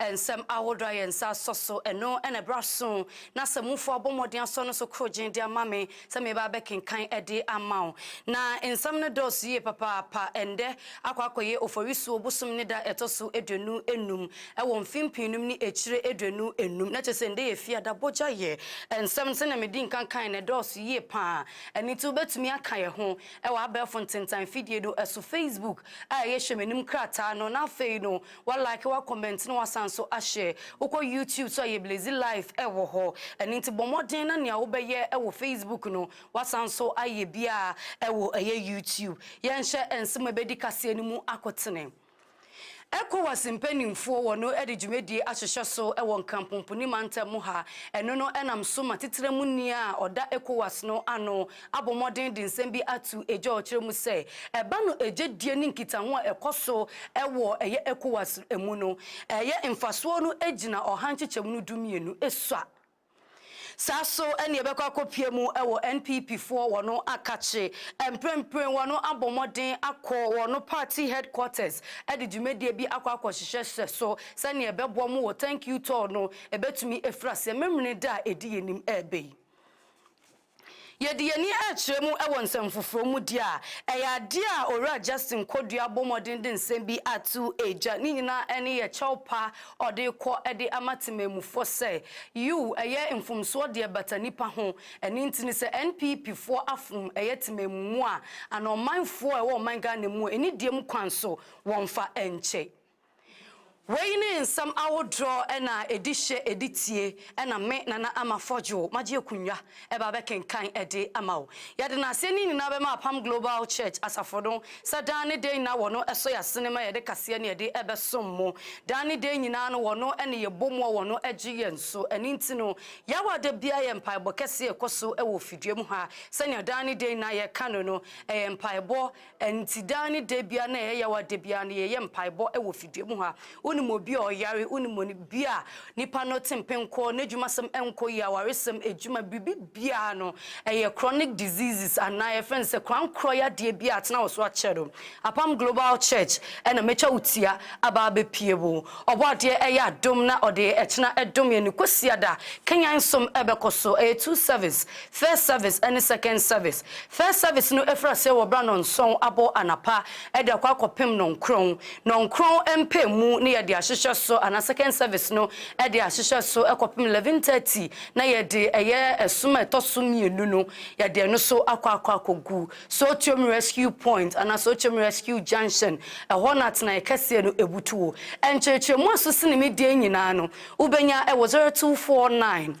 Nsɛm ahodoɔ a yɛn nsa asɔ so, ɛno na ɛberɛ aso, na sɛ mufo abɔ mmɔden asɔ no so korogyenn de ama me sɛ meba abɛkenkan de ama wo. Na nsɛm no dɔɔso yie papaapa. Ɛnnɛ akɔ akɔyɛ Oforisuo bosome ne da a ɛtɔ so aduonu nnum wɔ mfimmpini nom ne akyire aduonu nnum, na kyerɛ sɛ ɛnnɛ yɛ Fiada bɔgya yɛ. Nsɛm no sɛdeɛ medi nkan kaeɛ no ɛdɔɔso yie pa ara, ɛno nti wobɛtumi aka yɛn ho wɔ abɛɛfo ntentan fidie no so, Facebook a ɛyɛ Hwɛ M'anim krataa no, na afei no Wa like wa comment na wasan nso ahyɛ. Wokɔ YouTube so a yɛ Blazy life ɛwɔ hɔ. Ɛno nti bɔ mmɔden na nea wobɛyɛ ɛwɔ Facebook no wasan nso ayɛ bi a ɛwɔ ɛyɛ YouTube. Yɛnhyɛ nsɛm a ɛbɛdi kaseɛ no mu akotene. Ecowas mpaninfoɔ wɔ no de dwumadie ahyehyɛ so wɔ Nkampompo ni mantam mu ha. Ɛno no ɛnam so ma titire mu ni a ɔda Ecowas no ano, abɔ mmɔden de nsɛm bi ato gya a ɔkyerɛ mu sɛ ɛba no gye die ne nkitaho a ɛkɔ so wɔ ɛyɛ Ecowas mu no ɛyɛ mfasoɔ no gyina ɔha nkyekyɛmu no du mmienu sua saa so ɛne ɛbɛkɔ akɔpue mu wɔ NPP foɔ wɔn akakye mprempren wɔn abɔ mmɔden akɔ wɔn party headquarters de dwumadie bi akɔ akɔhyehyɛ hyɛ so sɛnea ɛbɛboa mu wɔ thank you tour no ɛbɛtumi ɛfiri aseɛ memene da a ɛdi yɛn nim ɛɛbɛ yi. Yɛde yɛn ani rekyerɛ mu wɔ nsɛm foforɔ mu deɛ a, ɛyɛ adeɛ a Owura Justin Kodua bɔ mmɔden de nsɛm bi ato gya. Ne nyinaa ne yɛ kyɛw pa a ɔde rekɔ de ama temanmufoɔ sɛ, Yiw, ɛyɛ mfomsoɔ deɛ ɛbata nnipa ho. Ɛno nti no, sɛ NPP foɔ afono ɛyɛ temanmumu a, anaa ɔmanfoɔ a ɛwɔ ɔman Ghana mu a, anidie mu kwan so wɔmfa nkyɛ. Wei ne nsɛm ahodoɔ na ɛdi hyɛ ɛdi tie na me Nana Ama Forgew magye akunwa ɛba bɛkenkan ɛde ama wo. Yɛde naseɛ ne nyinaa bɛma Apam Global Church Asafo no sɛ daa ne dɛn nyinaa wɔno ɛsɔ yasene ma yɛde kaseɛ ne ɛde ɛbɛsom mo. Daa ne dɛn nyinaa no wɔno ɛne yɛbɔ mu a wɔno ɛgye yɛn so. Ɛno nti no yaw a da biara yɛ mpaebɔ kɛseɛ ɛkɔ so ɛwɔ fidua mu ha sɛnea daa ne dɛn nyinaa yɛka no no ɛyɛ mpaebɔ Ɛnti daa ne da biara na ɛyɛ yaw a da biara no yɛyɛ mpaebɔ wɔ fidua mu ha. Wonim obi a ɔyare, wonim onim bi a nipa no te mpenkɔɔ, n'adwumasɛm nkɔ yie, awaresɛm, adwuma, biribi biara no, ɛyɛ chronic diseases anaa yɛfrɛ no sɛ korankorɔ yadeɛ bi a atena wo so akyɛ no, Apam Global Church na mɛtwa wo tia aba abɛpie wo. Ɔbɔadeɛ ɛyɛ adom na ɔde ɛkyena ɛdom yɛn ne Kwasiada kanyan som ɛbɛkɔ so, ɛyɛ two service. First service ne second service. First service no firi aseɛ wɔ berɛ a nnɔnson abɔ anapa de akɔ akɔpem nnɔnkron. Nnɔnkron mpaemu na yɛde ahyehyɛ so anaa second service no de ahyehyɛ so kɔpem eleven thirty na yɛde ɛyɛ ɛsom a ɛtɔ so mmienu no yɛde ɛno nso akɔ akɔ akɔgu Sotiom Rescue Point anaa Sotiom Rescue Junction. Ɛhɔ na atenaeɛ kɛseɛ no butuo. Nkyerɛkyerɛmu a ɛso sene me deɛ nyinaa no wobɛnya wɔ zero two four nine.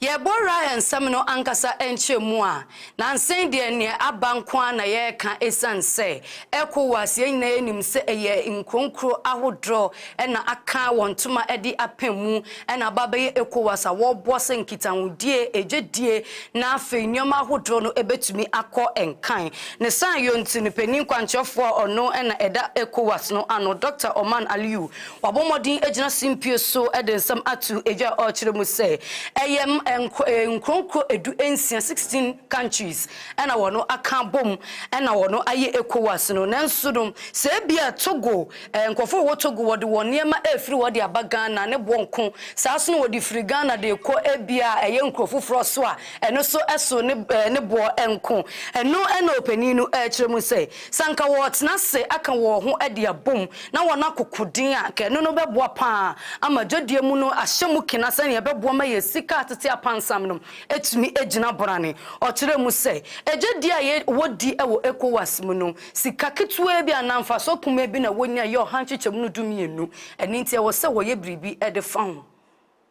Yɛrebɔ Rahel nsɛm no ankasa nkyerɛmu a, nansen deɛ neɛ aba nko ara na yɛreka ɛsiane sɛ Ecowas, yɛn nyinaa yɛnim sɛ ɛyɛ nkuronkuro ahodoɔ na aka wɔn ntoma de apem mu na aba abɛyɛ Ecowas a wɔreboa sɛ nkitahodie, ɛdwadie na afei nneɛma ahodoɔ no ɛbɛtumi akɔ nkan. Ne saa yɔnti no, panin kwankyerɛfoɔ a ɔno na ɛda Ecowas no ano, Doctor Oman Aliyu, Wabɔ mmɔden agyina simpie so de nsɛm ato dwa a ɔrekyerɛ mu sɛ ɛyɛ nkuronkuro edu nsia, sixteen countries, na wɔn aka abom na wɔn ayɛ Ecowas no. Nanso no, sɛ ebia Togo, nkurɔfo a wɔwɔ Togo, wɔde wɔn nneɛma refiri hɔ de aba Ghana ne boɔ nko. Saa nso na wɔde firi Ghana de rekɔ ebia ɛyɛ nkuro foforɔ so a, ɛno nso so ne boɔ nko. Ɛno na ɔpanin no rekyerɛ mu sɛ Sɛ anka wɔretena ase aka wɔn ho de abom na wɔakoko din a, anka ɛno no bɛboa paa ama dwadie mu no ahyɛ mu kena sɛnea ɛbɛboa ma yɛn sika a tete apansam no atumi agyina borane. Ɔkyerɛɛ mu sɛ, Dwadie a yɛwɔ di wɔ Ecowas mu no, sika ketewaa bi anaa mfasoɔ kumaa bi na wɔnya yɛ ɔha nkyekyɛmu no dumienu. Ɛno nti ɛwɔ sɛ wɔyɛ biribi de fa ho.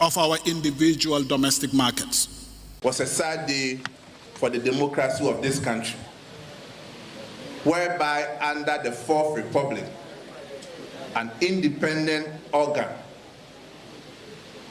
of our individual domestic markets. Was a sad day for the democracy of this country whereby under the fourth republic an independent organ,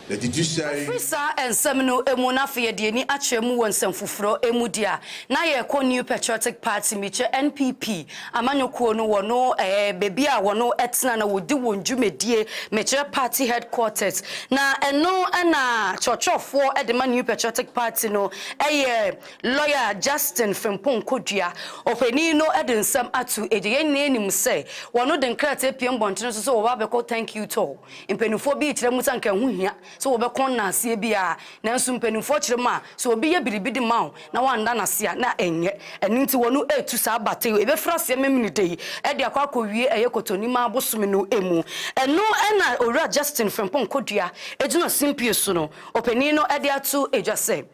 the judiciary, Ɛfiri saa nsɛm no mu na afei yɛde ani akyerɛ mu wɔ nsɛm foforɔ mu deɛ a na yɛrekɔ New Patriotic Party, mekyɛ NPP, Amanyɔkuo no wɔn ɛɛ baabi a wɔn ɛtena na wɔdi wɔn dwumadie mekyerɛ party headquarters na ɛno ɛna kyerɛkyerɛfoɔ ɛde ma New Patriotic Party no ɛyɛ Lawyer Justin Frimpong Kodua. Ɔpanin no ɛde nsɛm ato ɛgya yɛn nyinaa nim sɛ wɔn de nkrataa pie mmɔntene so sɛ wɔba abɛkɔ thank you tour. Mpaninfoɔ bi rekyerɛ mu sɛ anka ɛho hia. sɛ wɔbɛkɔ nnanseɛ bi ara, nanso mpanimfoɔ kyerɛ mu a, sɛ obi yɛ biribi de ma wo na woanna no ase a, na ɛnyɛ. Ɛno nti, wɔn retu saa bata yi, ɛbɛfiri aseɛ Memeneda yi de akɔ akɔwie ɛyɛ Kɔtɔnimaa bosome no mu. Ɛno na Owura Justin Frimpong Kodua gyina simpie so no, ɔpanin no de ato dwa sɛ,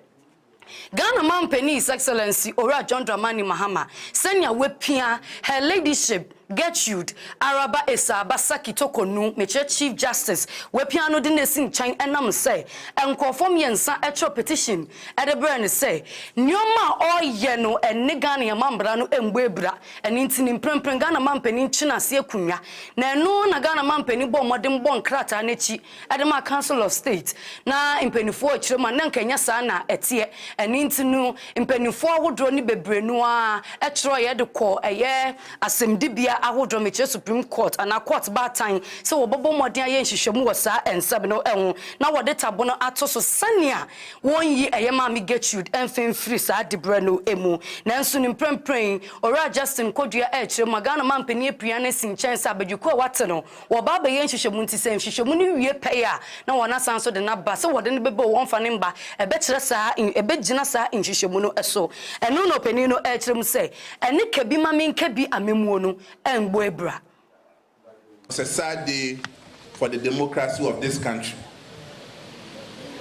Ghana Mampanin His Excellency Owura John Dramani Mahama sɛnea wapia Her Ladyship Gertrude Araba Essah-Bassaki Toko-Nu Mekyerɛ Chief Justice wapia no de no asi nkyɛn ɛnam sɛ nkurɔfoɔ mmiɛnsa twerɛ petition de brɛɛ no sɛ nneɛma a ɔreyɛ no ne Ghana yɛn mammara no mmɔ abira ɛno nti ne mprempren Ghana Mampanin kye no ase akonnwa na ɛno na Ghana Mampanin bɔɔ mmɔden bɔɔ nkrataa no akyi de maa Council of State, na mpaninfoɔ rekyerɛ mu a na nka ɛnyɛ saa na ɛteɛ. Ɛno nti no, mpaninfoɔ ahodoɔ no bebree no ara twerɛeɛ de kɔɔ ɛyɛ asɛmdibea ahodoɔ, mekyerɛ Supreme Court anaa Court Baatan, sɛ wɔbɛbɔ mmɔden ayɛ nhwehwɛmu wɔ saa nsɛm no ho na wɔde tabono ato so sɛnea wɔnyi ɛyɛ Maame Gertrude mfe mfiri saa diberɛ no mu. Nanso no mprɛmprɛn yi, Owura Justin Kodua rekyerɛ mu a, Ghana mampanin apira no asi nkyɛn sɛ abadwikuo a wɔate no, Wɔba abɛyɛ nhwehwɛmu nti sɛ nhwehwɛmu no wie pɛyɛ a na wɔn asan nso de no aba sɛ wɔde no bɛba o wɔmfa no mma, ɛbɛkyerɛ saa, ɛbɛgyina saa nhwehwɛmu no so. Ɛno na ɔpanin no rekyerɛ mu sɛ, Ɛne ka bi ma menka bi amammuo no mmɔ abira. It's a sad day for the democracy of this country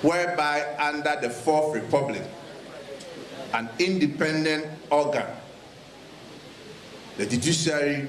whereby under the fourth republic an independent organ, the judiciary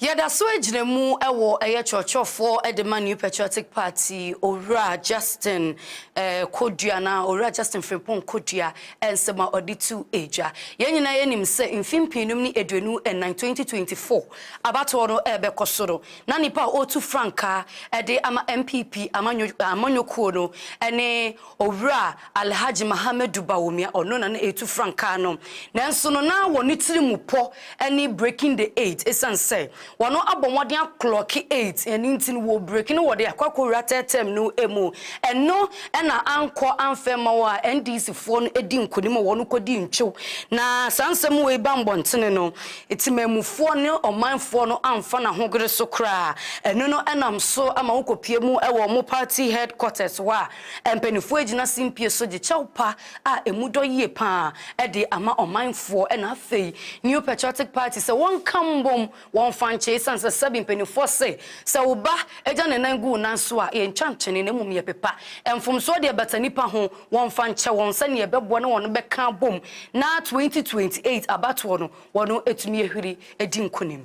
Yɛda so gyina mu wɔ ɛyɛ kyerɛkyerɛfoɔ de ma New Patriotic Party Owura Justin Kodua anaa Owura Justin Frimpong Kodua nsɛm a ɔde tu dwa. Yɛn nyinaa yɛnim sɛ mfe mpeenum ne aduonu nnan, 2024, abatoɔ no rebɛkɔ so no, na nipa a ɔretu frankaa de ama NPP amanyɔkuo no ne Owura Alhaji Mahamadou Bawumia, ɔno na na ɛretu frankaa no, nanso no na wɔ ne tiri mu pɔ ne breaking the eight, ɛsiane sɛ wɔn abɔ mmɔden aklɔɔke eight, ɛno nti no wɔrebreaki no wɔde akɔ akɔwura third term no mu, ɛno na ankɔ amfa amma wɔ a NDC foɔ no di nkonim a wɔn kɔdi ntwew, na saa nsɛm wei ba mmɔntene no, temanmufoɔ ne ɔmanfoɔ no amfa no ahogere so koraa, ɛno no nam so ma wɔkɔpue mu wɔ wɔn party headquarters hɔ a. Mpanyinfoɔ agyina simpie so gye kyɛw pa a ɛmu dɔ yie paa de ama ɔmanfoɔ ɛna afei New Patriotic Party sɛ wɔnka mbom wɔnfa nkyɛ esiane sɛ sɛbi mpanyinfoɔ se sɛ wo ba gya ne nan gu wo nan so a yɛntwa ntwene na mmom yɛpepa mfomsoɔ deɛ bata nipa ho wɔnfa nkyɛ wɔn sɛnea ɛbɛboa na wɔn bɛka abom na 2028 abatoɔ no wɔn atumi ahuri adi nkunim.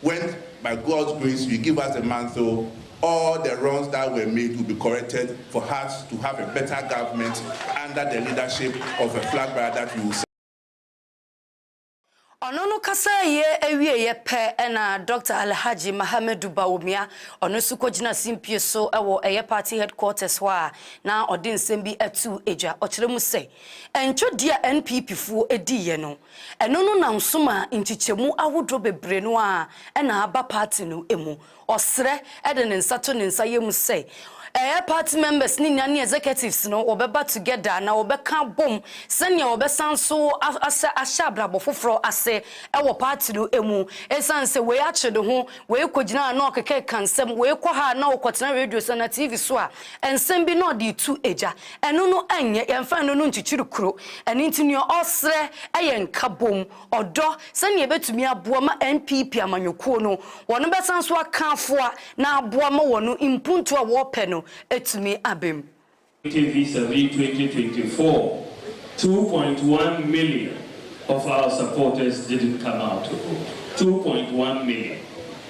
When by God's grace you give us a month o, all the wrongs that were made will be corrected for us to have a better government under the leadership of a flag bearer that we will support. Ɔno no kasaeɛ wieeɛ pɛ na Dɔkta Alhaji Mahamedu Bawumia, ɔno nso kɔgyina simpie so wɔ ɛyɛ party headquarters hɔ a na ɔde nsɛm bi too dwa. Ɔkyerɛ mu sɛ, Ntwɔdeɛ a NPP foɔ diiɛ no, Ɛno no na nsom a nkyekyɛmu ahodoɔ bebree no ara na aba party no mu. Ɔsrɛ de ne nsa to ne nsa yam sɛ ɛyɛ party members no nyinaa ne executives no wɔbɛba together na wɔbɛka abom sɛdeɛ wɔbɛsan nso asɛ ahyɛ abrabɔ foforɔ ase wɔ party no mu. Ɛsiane sɛ wei akye ne ho, wei kɔgyina ha na ɔkekeka nsɛm, wei kɔ ha na ɔkɔtena radio so anaa TV so a, nsɛm bi na ɔde retu gya. Ɛno no nyɛ, yɛmfa ɛno no nkyekyere kuro. Ɛno nti nea ɔsrɛ yɛ nkabom, ɔdɔ, sɛnea ɛbɛtumi aboa ma NPP amanyɔkuo no, wɔn bɛsan nso aka afoa na aboa ma wɔn mpuntuo a wɔrepɛ no atumi aba mu. Voting Visa Vii twenty twenty four, Two point one million of our supporters didn't come out to vote, two point one million.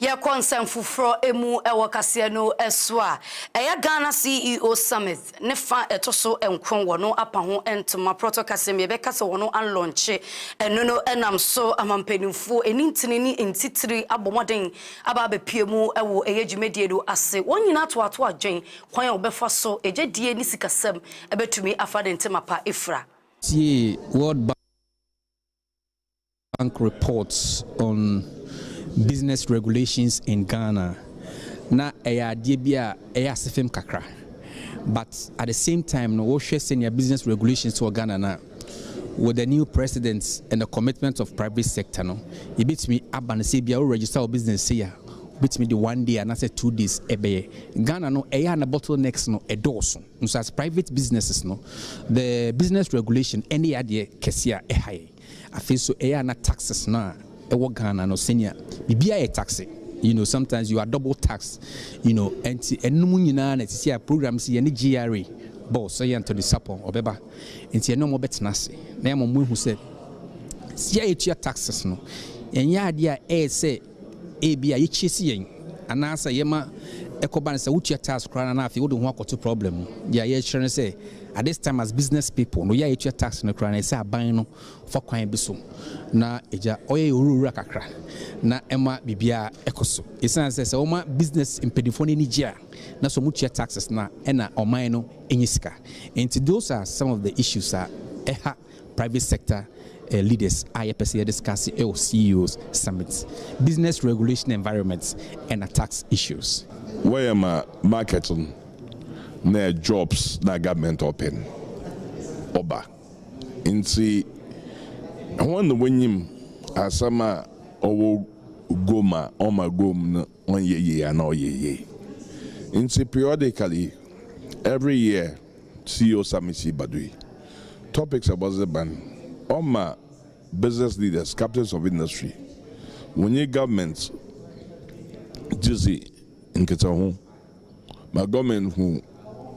Yɛkɔ nsɛm foforɔ mu wɔ kaseɛ no so a, ɛyɛ Ghana CEO Summit ne fa a ɛtɔ so nkron wɔn apa ho ntoma prɔtɔ kaseɛ mu yɛbɛka sɛ wɔn alɔnkye ɛno no nam so ama mpanimfoɔ ɛni ntini ne ntitire abɔ mmɔden aba abɛpue mu wɔ ɛyɛ dwumadie no ase. Wɔn nyinaa toatoa adwen kwan a wɔbɛfa so ɛgyedie ne sikasɛm bɛtumi afa de ntoma pa afira. Tie World Bank. Bank Reports on Business Regulations in Ghana, na ɛyɛ adeɛ bi a ɛyɛ asefem kakra but at the same time no wo hwɛ sɛnea business regulations wɔ Ghana no a with the new president and the commitment of private sector no yɛbɛtumi aba no sɛ ebia wo register wo business sei a wobɛtumi de one day anaasɛ two days ɛbɛyɛ Ghana no ɛyɛ a na bottlenecks no ɛdɔɔso Nso as private businesses no, the business regulation ɛne yɛ adeɛ kɛseɛ a ɛha yɛn. Afei nso ɛyɛ a na taxes no a ɛwɔ Ghana no sɛnea biribiara yɛ taxe, you know sometimes you are double taxed, you know ɛnti ɛnom nyinaa na sisi a program si yɛne GRA boss ɛyɛ Anthony Sapon ɔbɛba nti ɛne ɔmo bɛtena ase na yɛama ɔmo ahu sɛ sika a yɛtua taxes no ɛnyɛ adeɛ a ɛyɛ sɛ Ebia yekyi si yɛn anaasɛ yɛma ɛkɔba no sɛ wotua tax koraa no na afei wode wo ho akɔto problem mu. Deɛ yɛrekyerɛ ne sɛ, at this time as business people no, yɛ a yɛtua tax no koraa no, ɛsɛ aban no fa kwan bi so na egya ɔyɛ yɛ owurawura kakra na ɛma biribiara ɛkɔ so. Esiane sɛ sɛ woma business mpanimfoɔ no ani gye a na sɛ wɔtua taxes no a ɛna ɔman no nya sika. Enti those are some of the issues a ɛha Private sector leaders a yɛpɛ sɛ yɛ discuss wɔ CEOs summit, business regulation environment ɛna tax issues. Wɔyɛ ma market no na jobs na government ɔpɛ no ɔba nti hɔn na wonyim asɛm a ɔwɔ gom a ɔma gom no. ɔnyɛ yie anaa ɔyɛ yie nti periodically every year CEO summit yi ba do yi topics a wɔdze ba no ɔma business leaders, captains of industry, wɔnye government dze dzi nkitsaho ma government hu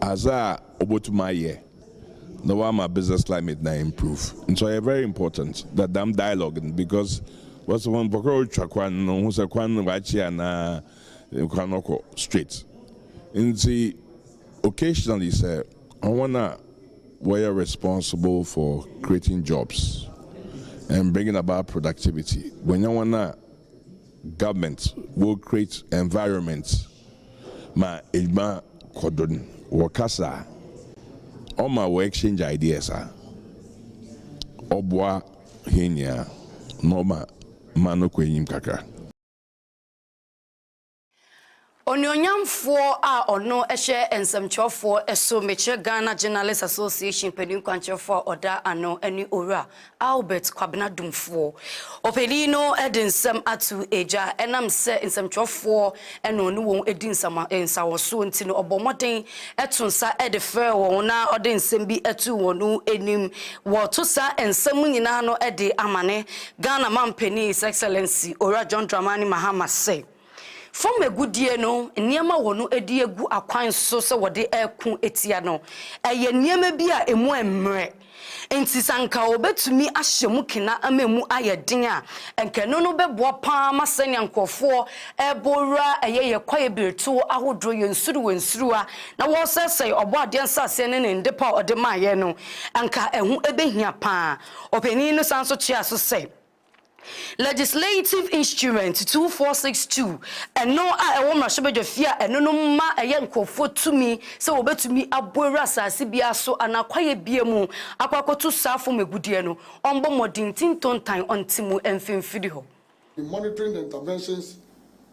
adze a obotum ayɛ. na ɔama business climate no a improve ntsi ɔyɛ very important dɛ dɛm dialogue no because wɔse hɔn mpɔkɔr rotwa kwan no hu sɛ kwan no wɔakye anaa kwan no kɔ straight ntsi occasionally sɛ hɔn a wɔyɛ responsible for creating jobs and bringing about productivity wonya hɔn a government will create environment ma edwuma kɔ do no, wɔkasa a, ɔma wɔ exchange ideas a, ɔboa hɛn nyina na ɔma man no kɔ enyim kakra. Onuonyamfoɔ a ɔno hyɛ nsɛmtwerɛfoɔ so, Mekyerɛ Ghana Journalists Association panin kwankyerɛfoɔ a ɔda ano ne Owura Albert Kwabena Dumfoɔ. Ɔpanin no de nsɛm ato dwa. Ɛnam sɛ nsɛmtwerɛfoɔ na ɔne wɔn di nsama nsawɔsoɔ nti no, ɔbɔɔ mmɔden to nsa de frɛɛ wɔn na ɔde nsɛm bi too wɔn anim. Wɔreto saa nsɛm nyinaa ano de amane Ghana mampanin His Excellency Owura John Dramani Mahama sɛ. Fam agudie no nneɛma a wɔn de agu akwan so sɛ wɔde reko tia no, ɛyɛ nneɛma bi a ɛmu ɛmmerɛ. Nti sɛ anka wɔbɛtumi ahyɛ mu kena ama ɛmu ayɛ den a, anka ɛno no bɛboa pa ara ma sɛnea nkorɔfoɔ rebɔ wura ɛyɛ yɛn kwaeɛ berɛtuo ahodoɔ, yɛn nsuruwa nsuruwa, na wɔresɛesɛe Ɔbɔadeɛ nsaseɛ ne Ne nnepa a Ɔde maa yɛn no, anka ɛho bɛhia pa ara. Ɔpanin no san nso toaa so sɛ. Legislative Instrument two four six two, Ɛno a ɛwɔ mmarahyɛbadwa fie a ɛno no ma ɛyɛ nkurɔfoɔ tumi sɛ wɔbɛtumi abɔ awura asase biara so anaa kwaeɛ biara mu akɔ akɔto saa fam agudeɛ no, ɔmbɔ mmɔden nti ntontan ɔnte mu mfimfini hɔ. Monitoring the interventions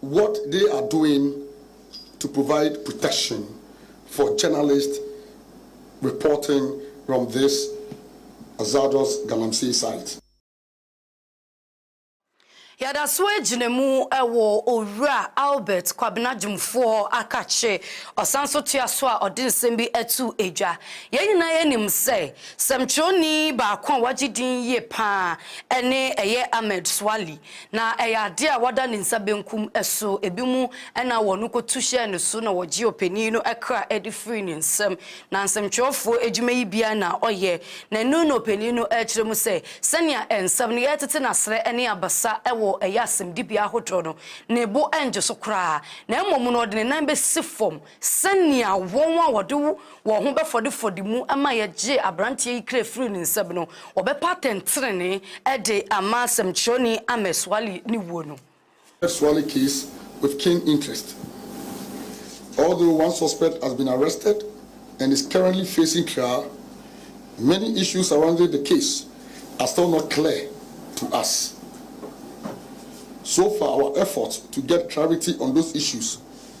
what they are doing to provide protection for journalist reporting from this hazardous galamsey site. Yɛda so agyina mu wɔ Owura Albert Kwabena Dwumfoɔ akakye. Ɔsan nso toa so a ɔde nsɛm bi to dwa. Yɛn nyinaa nim sɛ Sɛmtwerɛni baako a wagye din yie pa ara ne ɛyɛ Ahmed Swali, na ɛyɛ adeɛ a wada ne nsa benkum so, ebinom na wɔn kɔtu hyɛɛ ne so na wɔgyee ɔpanin no kra de firii ne nsam, na nsɛmtwerɛfoɔ adwuma yi biara na ɔyɛ, na ɛno na ɔpanin no rekyerɛ mu sɛ sɛnea nsɛm no retete no aserɛ ne abasa wɔ ɛyɛ asɛmdibea ahodoɔ no, ne bo nnwo so koraa, na mmom no ɔde ne nan bɛsi fam. Sɛnea wɔn a wɔde wɔn ho bɛfɔde fɔde mu ma yɛgyee aberanteɛ yi kra firii ne nsam no, wɔbɛpa atɛntenenee de ama sɛmtwerɛni Ahmed Swali ne wuo no. Ahmed Swali case with keen interest although one suspect has been arrested and is currently facing trial, many issues surrounding the case are still not clear to us. So far our efforts to get clarity on those issues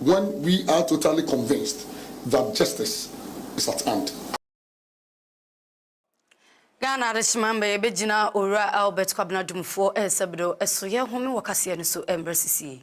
When we are totally convinced that justice is at hand. Ghana Adehyema Mba Yɛbɛgyina Owura Albert Kwabena Dumfoɔ Nsabido So Yɛrehome Wɔ Kaseɛ No So Mberɛ Sisi Yi.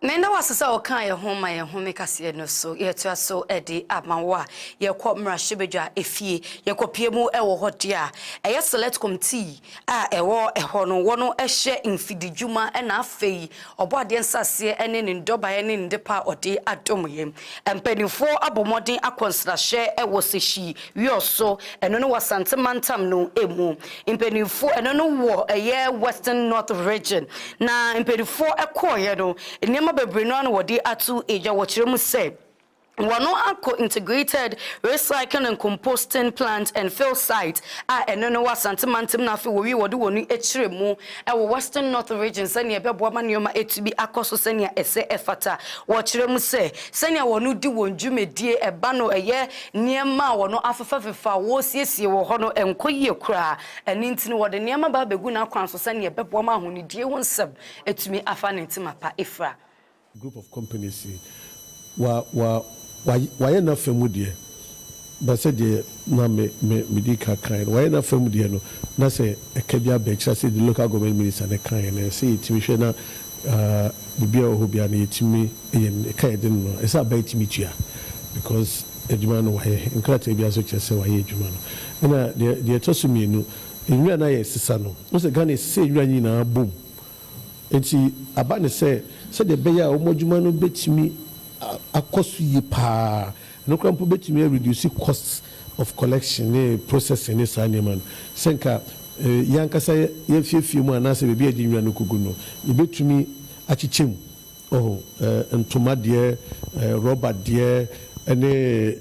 Na yɛda wo ase sɛ wokaa yɛn ho ma yɛn home kaseɛ no so. Yɛtoa so de ama wo a yɛkɔ mmarahyɛbadwa efie. Yɛkɔpie mu wɔ hɔ deɛ a, ɛyɛ Select Committee a ɛwɔ hɔ no, wɔn hyɛ mfididwuma na afei Ɔbɔadeɛ nsaseɛ ne ne nnɔbaeɛ ne nnepa a ɔde adom yɛn. Mpanimfoɔ abɔ mmɔden akɔ nsrahwɛ wɔ Seshii. Wɔ so, ɛno ne wɔ Asante mantam no mu mpaninfoɔ, ɛno no wɔ ɛyɛ Western North Region, na mpaninfoɔ kɔɔeɛ no, nneɛma bebree no ara na wɔde ato dwa, wɔkyerɛ mu sɛ, wɔn akɔ Integrated Recycling and Composting Plant and Fill Site a ɛno no wɔ Asante mantam na afei wɔwie wɔde wɔn kyerɛ mu wɔ Western North Region sɛdeɛ ɛbɛboa ma nneɛma atumi akɔ so sɛdeɛ ɛsɛ ɛfata, wɔkyerɛ mu sɛ, sɛdeɛ wɔn de wɔn dwumadie ɛba no ɛyɛ Nneɛma a wɔafefafefa a wɔresiesie wɔ hɔ no nkɔ yie koraa, ɛno nti no wɔde nneɛma ba abɛgu n'akwan so sɛnea ɛbɛboa ma ahonidie ho nsɛm atumi afa ne ntoma pa afira. Group of companies yi, wa, wa, wa, wayɛ n'afa mu deɛ, na sɛdeɛ na me, me, medi ka kaeɛ no, wayɛ n'afa mu deɛ no, na sɛ ɛka bi aba akyire a, sɛdeɛ Local Government Minister no kaeɛ no, ɛsɛ sɛ yɛtumi hwɛ na, uh, biribiara a ɛwɔ hɔ biara no, yɛtumi. Ɛyɛ me ka yɛ den no ɛsɛ aba yi tumi tua because adwuma no wayɛ nkrataa biara nso kyerɛ sɛ wayɛ adwuma no ɛna deɛ deɛ ɛtɔ so mmienu nwura no ayɛ sesa no wohu sɛ Ghana ɛsesɛ nwura nyinaa bom nti aba no sɛ sɛdeɛ ɛbɛyɛ a wɔn adwuma no bɛtumi akɔ so yie paa ɛno koraa mpo bɛtumi a reduce cost of collection ne processing ne saa nneɛma no sɛ nka yɛn ankasa yɛn afiefie mu anaasɛ baabi a yɛde nwura no kɔgu no yɛbɛtumi akyekyɛ mu Oh, eh, ntoma deɛ, eh, rubber deɛ, ɛne,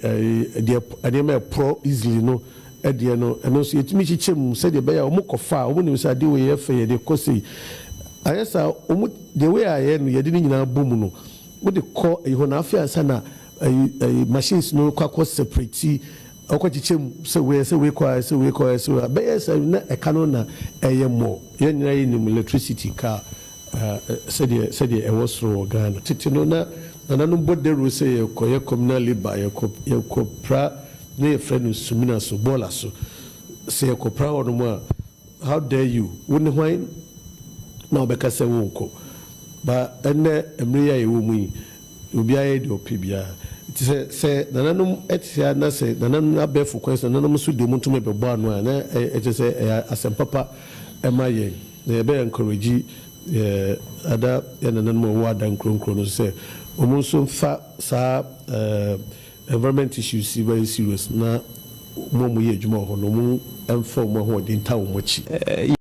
eh, deɛ nneɛma a ɛporɔ easily no deɛ no, ɛno nso yɛtumi kyekyɛ mu sɛdeɛ ɛbɛyɛ a wɔkɔfa a wɔnim sɛ adeɛ wei yɛ fɛ, yɛde kɔ sei. Anyɛ saa a, wɔn, the way a yɛyɛ no, yɛde ne nyinaa bɔ mu no, wode kɔ ɛyi hɔ na afei ansa na ɛyi, ɛyi, machines no kɔ akɔ separate Ɔkɔ kyekyɛ mu sɛ wei ɛsɛ wei kɔ ha ɛsɛ wei kɔ ha ɛsɛ wei a bɛyɛ sɛ na ɛka no na ɛyɛ more yɛn nyinaa yɛ nim electricity car sɛdeɛ sɛdeɛ ɛwɔ soro wɔ Ghana tete no na nananom bɔ dawuro sɛ yɛ kɔ yɛ communal labour yɛ kɔ yɛ kɔ pra na yɛ frɛ no sumina so bɔɔla so sɛ yɛ kɔ pra hɔ nom a how dare you wo ne hwan na ɔbɛka sɛ wo nkɔ ba ɛnɛ mmere yɛ a yɛ wɔ mu yi. Obiara yɛ deɛ ɔpɛ biara. Nti sɛ sɛ nananom te saa na sɛ nananom no abɛɛfo kwan so na nananom nso deɛ wɔntumi bɛbɔ ano a, na ɛkyerɛ sɛ ɛyɛ asɛm papa ma yɛn. Na yɛbɛ encourage yɛn other yɛn nananom a wɔwɔ adan nkuro nkuro no nso sɛ wɔn nso mfa saa environment issues yi very serious na wɔn a wɔyɛ adwuma wɔ hɔ no wɔn mfa wɔn ahoɔden ntaa wɔn akyi.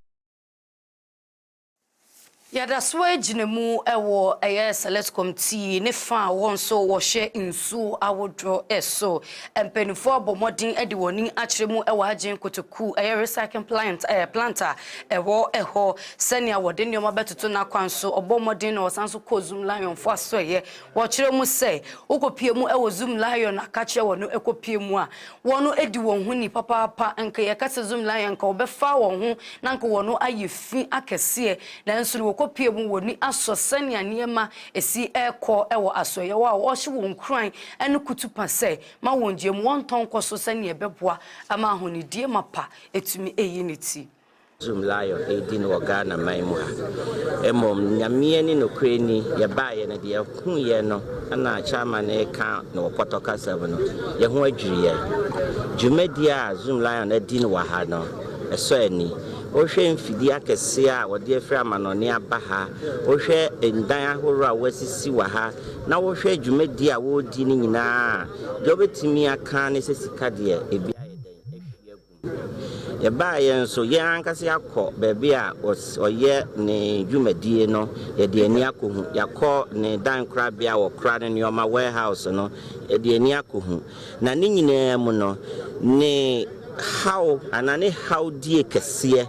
Yɛda so ara gyina mu wɔ ɛyɛ Select Committee ne fa a wɔn nso wɔhwɛ nsuo ahodoɔ so. Mpanimfoɔ abɔ mmɔden de wɔn ani akyerɛ mu wɔ Agyen Kotoku ɛyɛ Recycling Plant ɛɛ plant a ɛwɔ hɔ sɛnea wɔde nneɛma bɛtoto n'akwan so. Ɔbɔ mmɔden na ɔsan nso kɔɔ Zoom Lion foɔ asoɛeɛ. Wɔkyerɛ mu sɛ wokɔpue mu wɔ Zoom Lion a ka kyerɛ wɔn no kɔpue mu a Wɔno adi wɔn ho ni papaapa nka yɛka sɛ Zom Lion nka wɔbɛfaa wɔn ho na nka wɔno ayɛ fi akɛseɛ nanso no wɔkɔ pie mu wɔni asɔ sɛnea nneɛma ɛsi ɛkɔ wɔ asɔeɛ hɔ a wɔhyɛ wɔn nkuran ne kutupa sɛ ma wɔn gyeɛ mu wɔntɔ nkɔ so sɛnea ɛbɛboa ma ahonidie mapa ɛtumi ɛyi ne ti. Zoom Lion redi no wɔ Ghana man mu ha. Mmom Nyame ani nokorɛ ni yɛbaeɛ no deɛ yɛhuiɛ no na Chairman no reka no wɔ pɔtɔ kasa mu no yɛn ho adwiri yɛn. Dwumadie a Zoom Lion adi no wɔ ha no ɛsɔ ani. Wohwɛ mfidie akɛseɛ a wɔde afiri amanɔne aba ha, wohwɛ ndan ahoroɔ a wɔasisi wɔ ha na wohwɛ dwumadie a wɔredi no nyinaa a, deɛ wobɛtumi aka ne sɛ sika deɛ ebi ayɛ dɛn ahwie agu. Yɛbaa yɛn nso, yɛn ankasa yɛakɔ baabi a ɔyɛ ne dwumadie no, yɛde ani akɔhu. Yɛakɔ ne dan korabea a wɔkora ne nneɛma, warehouse, no, yɛde ani akɔhu. Na ne nyinaa mu no, ne haw anaa ne hawdie kɛseɛ.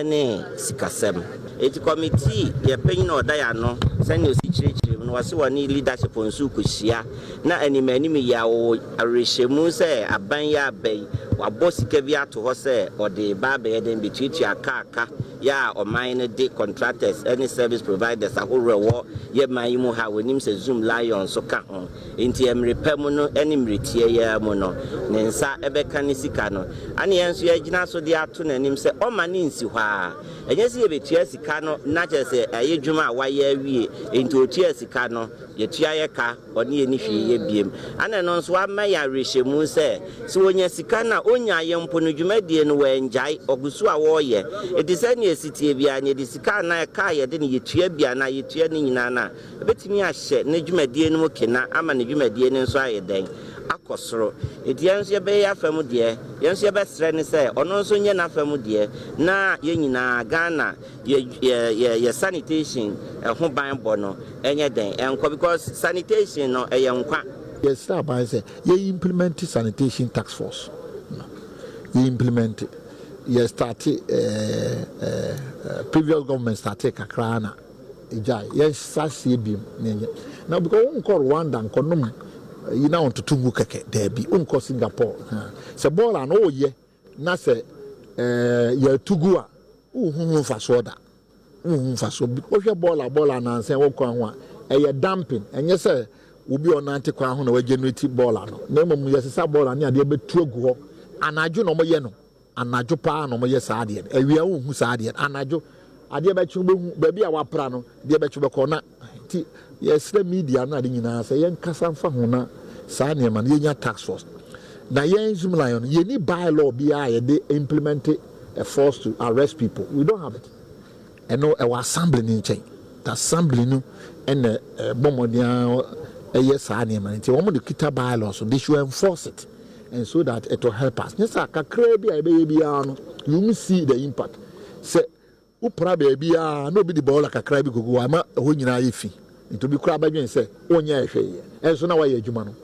ne sikasɛm. Enti kɔmitii deɛ panyin a ɔda yɛn ano sɛnea osi kyerɛkyerɛ mu no, wɔse wɔne leadership nso kɔhyia na anim anim yi ara wɔwɔ awerɛhyɛmu sɛ aban yi aba yi wɔabɔ sika bi ato hɔ sɛ wɔde reba abɛyɛ dɛn bɛtuatua kaa ka yɛ a ɔman no de contractors ne service providers ahorow a ɛwɔ yɛ man yi mu ha a wɔnim sɛ Zoom Lion nso ka ho. Enti mmere pa mu no ne mmere tiaa yi ara mu no, ne nsa bɛka ne sika no. Ɛnna yɛn nso yɛagyina so de ato n'anim sɛ ɔmma no nsi hɔ ara. Ɛnyɛ sɛ yɛbɛtua sika no na kyerɛ sɛ ɛyɛ dwuma a wayɛ awie, enti ɔtuaa sika no, yɛtua yɛn ka, ɔne yɛn nni hwee yɛ bio. Ɛnna ɛno nso ama yɛn awerɛhyɛmu sɛ, sɛ ɔnya sika no a, ɔnyaeɛ mpo no, dwumadie no wangyae, ɔgu so ara ɔreyɛ. Enti sɛdeɛ ɛsi teɛ biara no, yɛde sika a na ɛka a yɛde no yɛtua bi anaa yɛtua ne nyinaa no a, Ebetumi ahyɛ ne dwumadie no mu kena ama ne dwumadie no nso ayɛ dɛn? Akɔ soro. Enti yɛn nso yɛbɛyɛ yɛn afa mu deɛ, yɛn nso yɛbɛsrɛ no sɛ ɔno nso nyɛ n'afa mu deɛ na yɛn nyinaa Ghana yɛ yɛ yɛ yɛ sanitation ho ban bɔ no nyɛ dɛn nkɔ because sanitation no ɛyɛ nkwa. Yɛsrɛ aban sɛ yɛ implemɛnte sanitation task force no, yɛ implemɛnte, yɛ starte ɛɛ ɛɛ ɛɛ previous government startee kakra ara na. Egyae, yɛnhyɛ aseɛ biom na yɛnyɛ. Na because wonkɔ Rwanda nkɔnom yi na ɔntoto ngu kɛkɛ, daabi, wonkɔ Singapore ha. Sɛ bɔɔl a na woyɛ na sɛ eh, yɛatu gu a, wonhu ho mfasoɔ da. Wonhu mfasoɔ bi. Wohwɛ bɔɔl a bɔɔl a nansa wɔ kwan ho a, ɛyɛ dumping. Ɛnyɛ sɛ obi a ɔnante kwan ho na wagenerate bɔɔl no, na mmom yɛsesa bɔɔl ne adeɛ bɛtu agu hɔ. Anadwo na wɔyɛ no. Anadwo paa na wɔyɛ saa adeɛ no, awia wonhu saa adeɛ no, anadwo adeɛ bɛkye wobɛhu, baabi a woapra no deɛ bɛkye wobɛkɔ na nti yɛsrɛ media no ade nyinaa sɛ yɛnkasa mfa ho na saa nneɛma no yɛnya task force na yɛn Zimlion no yɛni by law biara a yɛde implement a force to arrest people, we don't have it. Ɛno ɛwɔ assembly no nkyɛn. Assembly no na ɛbɔ mmɔden ara yɛ saa nneɛma no. Nti wɔn de kita bylaws no, they should enforce it and so that it will help us. Nyɛ saa, kakraa bi a yɛbɛyɛ biara no, you won't see the impact. Sɛ wopra baabi ara na obi de boiler kakraa bi kɔgu hɔ a, ɛma ɛhɔ nyinaa yɛ fi. Nti obi koraa bɛdwene sɛ wonyɛɛ hwee, ɛnso na woayɛ adwuma no.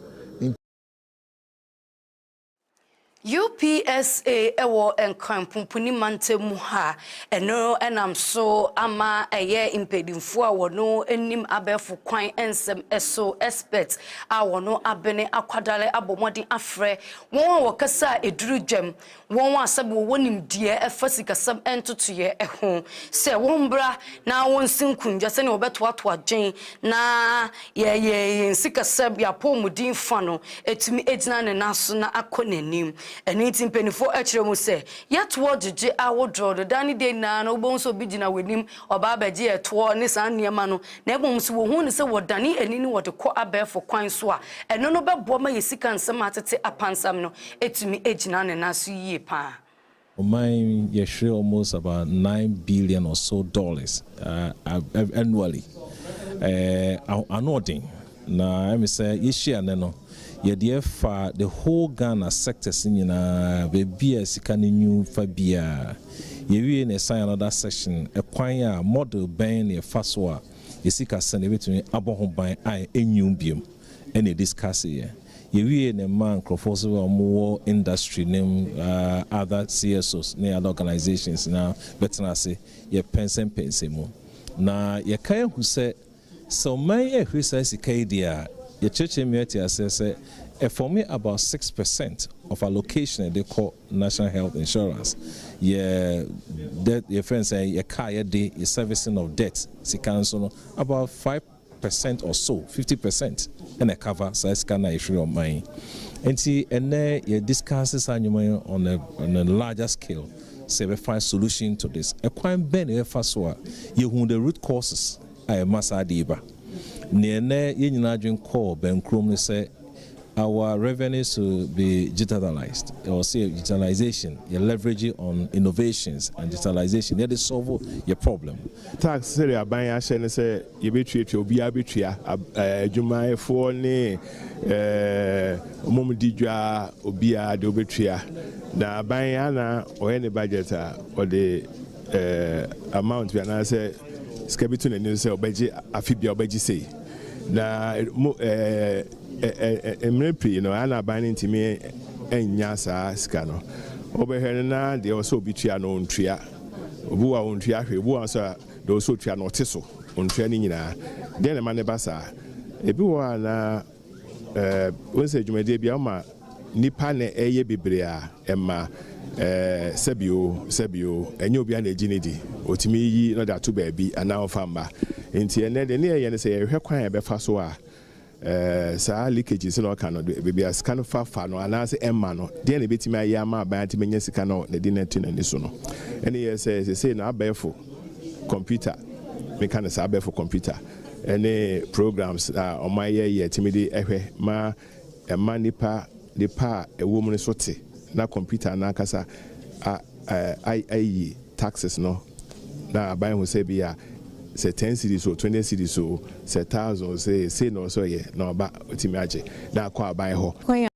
UPSA wɔ Nkran Punpuni mantam mu ha, ɛno nam so ama ɛyɛ mpaninfoɔ a wɔn nim abɛɛfo kwan nsɛm so experts a wɔn abene akwadare abɔ mmɔden afrɛ wɔn a wɔkasa a ɛduru dwam, wɔn a sɛbe wɔwɔ nimdeɛ ɛfa sikasɛm ntotoeɛ ho sɛ wɔn bra na wɔn si nkundwa sɛdeɛ wɔbɛtoatoa dwen na Yɛyɛ yɛn sikasɛm, yɛn apɔwmuden fã no atumi agyina ne nan so na akɔ n'anim. Ɛno nti mpanyimfo kyerɛ mu sɛ, Yɛ toɔ gyegye ahodoɔ no, da ne da nyinaa no wobɛhu sɛ obi gyina w'anim, ɔba abɛgye ɛtoɔ ne saa nneɛma no, na mmom sɛ wɔhu no sɛ wɔdane ani ne wɔde kɔ abɛɛfo kwan so a, ɛno no bɛboa ma yɛn sika nsɛm a atete apansam no atumi agyina ne nan so yie pa ara. Ɔman yi yɛ hwere almost about nine billion or so dollars annually. Ɛɛ ano ɔden. Na ɛmi sɛ yɛhyia nnɛ no yɛde ɛfa the whole Ghana sectors nyinaa baabi a sika no nyu fa biara. Yɛwie no yɛsan yɛ another session ɛkwan a model bɛn na yɛfa so a yɛsikasɛm no yɛbɛtumi abɔ ho ban a ɛnyu biom. ɛna ɛdiskase yɛ. Yɛwiee no maa nkurɔfoɔ so a wɔwɔ industry no mu other CSOs ne other organisations na bɛtena ase yɛ pɛnsɛmpɛnsɛ mu. Na yɛka ahu sɛ sɛ ɔman yi ahuri saa sika yi deɛ a yɛkyerɛkyerɛ mu ate aseɛ sɛ ɛfɔme about six percent of allocation ɛde kɔ national health insurance yɛ debt yɛfrɛ no sɛ yɛ car yɛde yɛ servicing of debt sika nso no about five percent or so, fifty percent na ɛcover saa sika no a ɛfiri ɔman yi. Nti ɛnnɛ yɛ discuss saa nnwuma yi on a on a larger scale sɛ yɛbɛfa solution to this. Ɛkwan bɛn na yɛbɛfa so a yɛhu the root causes a ɛma saa ade yi ba. Nea ɛnnɛ yɛn nyinaa adwene kɔɔ bɛnkorɔm ne sɛ Our revenue should be digitalized, ɔse digitalization, yɛ leverage on innovations and digitalization yɛde solve yɛ problem. Tax sɛdeɛ aban ahyɛ ne sɛ yɛbɛtuatua, obiara bɛtua, adwumayɛfoɔ ne wɔn di dwa obiara deɛ ɔbɛtua. Na aban ana ɔyɛ ne budget a ɔde amount bi anaasɛ sika bi to n'ani so sɛ ɔbɛgye afe bia ɔbɛgye sei. Na mo ɛɛ mmerɛ pii no ɛyɛ na aban no ntumi nnya saa sika no. Wobɛhwɛ no na deɛ ɛwɔ sɛ obi tua no ɔntua. Obi wɔ a ɔntua hwee, obi wɔ nso a deɛ ɛwɔ sɛ ɔtua no ɔte so ɔntua ne nyinaa. Deɛn na ɛma no ba saa? Ebi wɔ hɔ a na ɛɛ wohu sɛ dwumadie biara wɔma. Nnipa na ɛyɛ bebree a ɛma ɛɛ sɛbi o sɛbi o, ɛnyɛ obiara na egye no di. Otumi yiyi na ɔde ato baabi anaa ɔmfa mma. Enti ɛnnɛ deɛ ne yɛyɛ no sɛ yɛhwɛ kwan a yɛbɛfa so a ɛɛ saa leakages na ɔka no de baabi a sika no fa fa no anaasɛ ɛmma no, deɛn na ebetumi ayɛ ama aban atumi anya sika no na ɛde no ato n'ani so no. Ɛne yɛ sɛ sesei no abɛɛfo kɔmputa, meka no saa abɛɛfo kɔmputa, ɛne programs a wɔayɛ yɛ tumi de ɛhwɛ ma. ɛma nnipa de pɛ a ɛwɔ mu no so te na kɔmputa no ankasa ayi taxes no na aban ahu sɛ ebia sɛ ten cedis o, twenty cedis o, sɛ thousand o, sɛ sei na ɔwɔ sɛ ɔyɛ na ɔba otumi agye na akɔ aban hɔ. Kwan a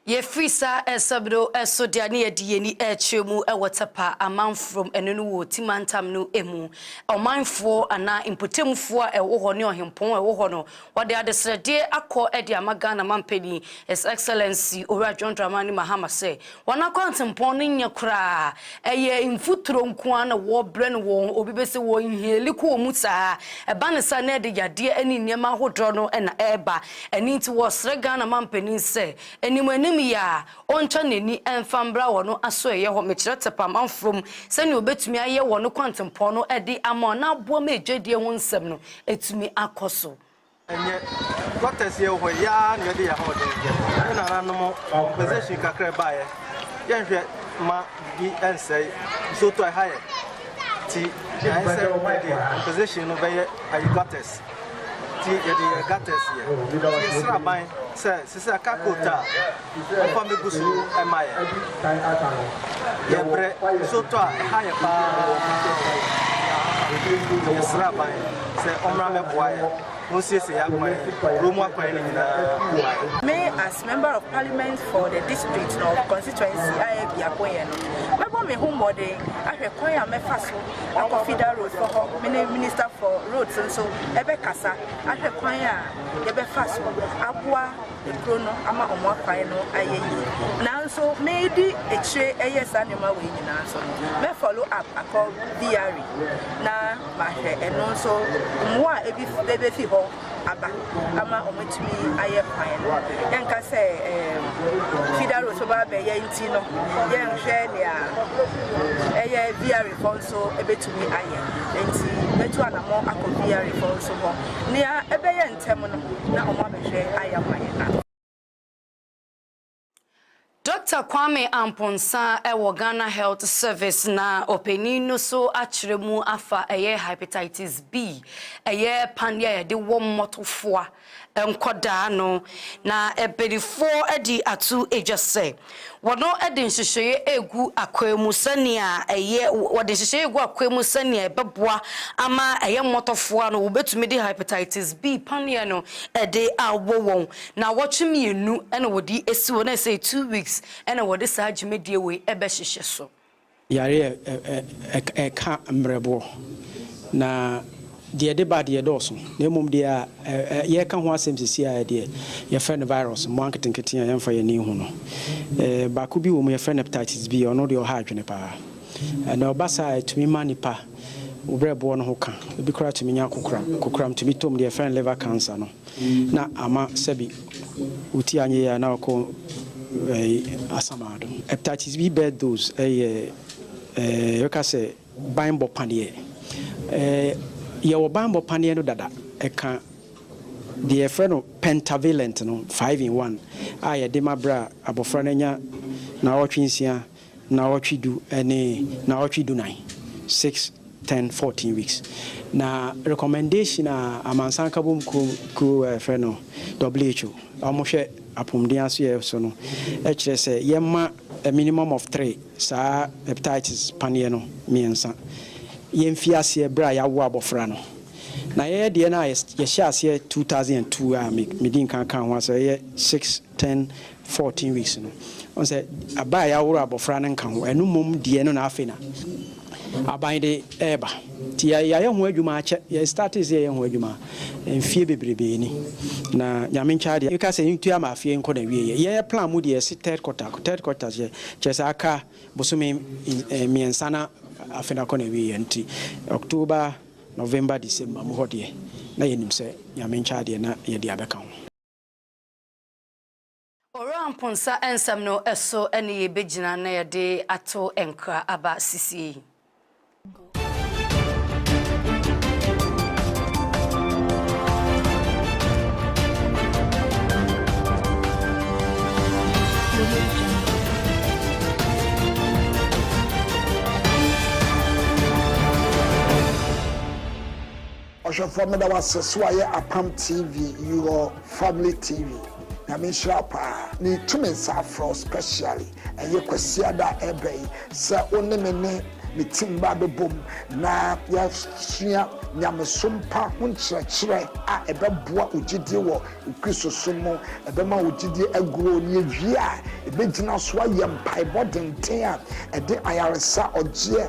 Yɛfiri saa nsɛm no so de a ne yɛde yɛn ani rekyerɛ mu wɔ Tapa amanforom, ɛno ne wɔ Ti Mantam no mu. Ɔmanfoɔ anaa mpotamfoɔ a ɛwɔ hɔ ne ɔhempɔn a ɛwɔ hɔ no, wɔde adesrɛdeɛ akɔ de ama Ghana Mampanin, His Excellency Owura John Dramani Mahama sɛ Wɔn akwantempɔn no nyɛ koraa. Ɛyɛ mfuturo nko ara na wɔbrɛ no wɔ wɔn, obi bɛ sɛ wɔ inhale kɔ wɔn mu saa. Ɛba no saa na ɛde yadeɛ ne nneɛma ahodoɔ no na ɛreba. Ɛno nti wɔsrɛ Ghana mampanin sɛ, anim anim yi a, ɔntwa n'ani mfa mbra wɔn asoɛeɛ hɔ, mekyerɛ tɛpɛ amanfoɔ mu, sɛdeɛ ɔbɛtumi ayɛ wɔn kwantempɔn no de ama wɔn na aboa ma adwadie ho nsɛm no atumi akɔ so. Ɛnyɛ quarters yɛ wɔ hɔ yi ara na yɛde yɛn ahoɔden yɛ. Ne nananom compensation kakra ɛbaeɛ, yɛnhwɛ ma biribi ɛnsɛe. Nsuo tɔ ɛha yɛ ti, ayɛ sɛ yɛde compensation no bɛyɛ ayi gutters. Ti yɛde yɛn gutters yɛ. Yɛsrɛ aban sɛ sisi a car coat a. Papa megu so ma yɛ. Yɛ brɛ so tɔ a ɛha yɛ paa wɔ Christian Christ Bible nti yɛ srɛ aban sɛ ɔmmra mɛboa yɛ onsiesie yɛ akwan yi kuro mu akwan no nyinaa mma yɛ. Me as member of parliament for the district no constituency a yɛ biako yɛ no mɛbɔ me ho mmɔden ahwɛ kwan a mɛfa so akɔ Fida road kɔ hɔ me ne minister for roads nso ɛbɛ kasa ahwɛ kwan a yɛbɛfa so aboa kuro no ama wɔn akwan no ayɛ yie. Nanso medi akyire ɛyɛ saa nneɛma wei nyinaa nso no, mɛ follow up akɔ BRI na mahwɛ ɛno nso mmoa a ebi bɛbɛfi hɔ aba ama wɔatumi ayɛ kwan no. Yɛnka sɛ ɛɛ feeder road so ba abɛyɛ nti no, yɛnhwɛ nea ɛyɛ BRI fɔ nso ebɛtumi ayɛ. Nti mɛtu anamɔ akɔ BRI fɔ nso hɔ. Nea ɛbɛyɛ Ntɛm no na ɔmo abɛhwɛ ayɛ ama yɛn a. Dɔkta Kwame Amponsah wɔ Ghana Health Service na ɔpanin no so akyerɛ mu afa ɛyɛ Hepatitis B, ɛyɛ paneɛ a yɛde wɔ mmɔtofoa nkɔdaa no, na mpanifoɔ adi ato dwa sɛ. Wɔde nhyehyɛeɛ regu akwaa mu sɛnea ɛyɛ wɔde nhyehyɛeɛ regu akwaa mu sɛnea ɛbɛboa ama ɛyɛ mmɔtɔfowa no wɔbɛtumi de hepatitis B paneɛ no de awɔ wɔn. Nnawɔtwe mmienu na wɔde asi hɔ na sɛ two weeks na wɔde saa dwumadie wei bɛhyehyɛ so. Yare a ɛka mmerɛboɔ, na deɛ ɛde ba deɛ ɛdɔɔso, na mmom deɛ a yɛreka ho asɛm seesei ara deɛ, yɛfrɛ no virus, mmoa nketenkete a yɛmfa yɛn ani nhu no. Baako bi wɔ mu, yɛfrɛ no hepatitis B, ɔno deɛ ɔha adwene paa. Na ɔba saa a, ɛtumi ma nipa berɛboɔ no ho ka, ebi koraa tumi nya kokoram, kokoram tumi tɔ mu, deɛ yɛfrɛ no liver cancer no. na ama sɛbi woti anyɛ yie a na ɔkɔ ɛyi asamado. Hepatitis B birth dose ɛyɛ ɛɛ yɛbɛka sɛ banbɔ paneɛ. Ɛɛ yɛwɔ banbɔ paneɛ no dada ɛka deɛ yɛfrɛ no pentavalent no five in one a yɛde ma berɛ a abɔfra no anya naawɔtwe nsia Naawɔtwe du ne naawɔtwe dunan, six, ten, fourteen weeks. Na recommendation a Amansan Nkabom Kuo Kuo a yɛfrɛ no WHO a wɔhwɛ apomden asoyɛ so no kyerɛ sɛ yɛmma a minimum of three saa hepatitis paneɛ no mmiɛnsa. Yɛmfi aseɛ berɛ a yɛawo abɔfra no. Na yɛyɛ deɛ no a yɛhyɛ aseɛ two thousand and two a me medi nkan kaa ho asɛ ɛyɛ six ten, fourteen weeks no, ɔn sɛ aba a yɛaworo abɔfra no nka ho, ɛno mmom deɛ no na afei na aban de ɛɛba, nti yɛayɛ ho adwuma akyɛ, yɛ startee sɛ yɛyɛ ho adwuma mfie bebrebee ni, na Nyame ntwa adeɛ, yɛka sɛ yɛntua ama afeɛ nkɔ na wie yɛ, yɛyɛ plan mu deɛ yɛse third quarter, third quarter deɛ kyerɛ sɛ aka bosome mmiɛnsa na afe no akɔ na wie yɛ, nti October, November, December mu hɔ deɛ na yɛnim sɛ Nyame ntwa adeɛ na yɛde abɛka ho. Owura Mponsa nsɛm no so ne yɛbɛgyina na yɛde ato nkra aba sesie yi. Ɔhwɛfoɔ meda wo ase sɛ wayɛ apam TV your family TV nyame nhyira wo paa metu me nsa afrɛ wo specially ɛyɛ kwasiada a ɛreba yi sɛ wo ne me ne me team mmra abɛbom na yɛasua nyamesom pa ho nkyerɛkyerɛ a ɛbɛboa wo gyidie wɔ Kristo som mu ɛbɛma wo gyidie aguro na yɛwie a ɛbɛgyina so ayɛ mpaebɔ denden a ɛde ayaresa ɔgyeɛ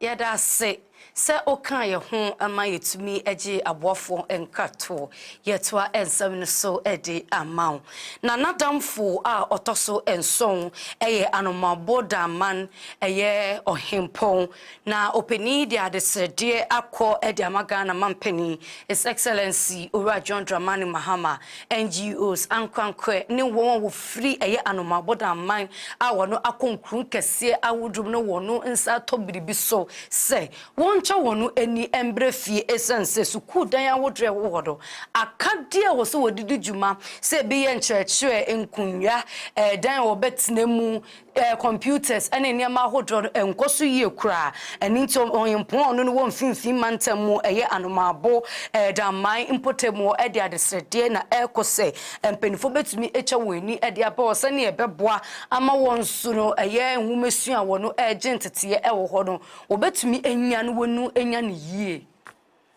Yɛda ase sɛ wokaa yɛn ho ma yɛtumi gyee aboafoɔ nkratoo. Yɛtoa nsɛm no so de ama wo. Na n'adamfo a ɔtɔ so nson yɛ Anomaboɔ Daman, ɛyɛ Ɔhempɔn. Na ɔpanin yi de adesrɛdeɛ akɔ de ama Ghana Mampanin, His Excellency Owura John Dramani Mahama, NGOs, ankorankorɛ ne wɔn a wɔfiri ɛyɛ anomaabɔda aman a wɔn akɔ nkuro nkɛseɛ ahodoɔ mu na wɔn nsa atɔ biribi so sɛ wɔnkyɛ wɔn ani mbrɛ fie ɛsiane sɛ sukuu dan ahodoɔ a ɛwɔ hɔ no aka deɛ ɛwɔ sɛ wɔde di dwuma sɛ ɛbi yɛ nkyerɛkyerɛ, nkonnwa, ɛdan a wɔbɛtena mu, Ɛɛ, computers ne nneɛma ahodoɔ no nkɔ so yie koraa. Ɛno nti Ɔhempɔn a ɔno ne wɔ Mfimfini Mantam mu yɛ Anomaabo, ɛɛ, Danman mpɔtam hɔ de adesrɛdeɛ na ɛrekɔ sɛ mpaninfoɔ bɛtumi atwa wɔn ani de aba hɔ sɛdeɛ ɛbɛboa ama wɔn nso no ɛyɛ nwomasua a wɔn ɛregye nteteeɛ wɔ hɔ no wɔbɛtumi anya na wɔanya no yie.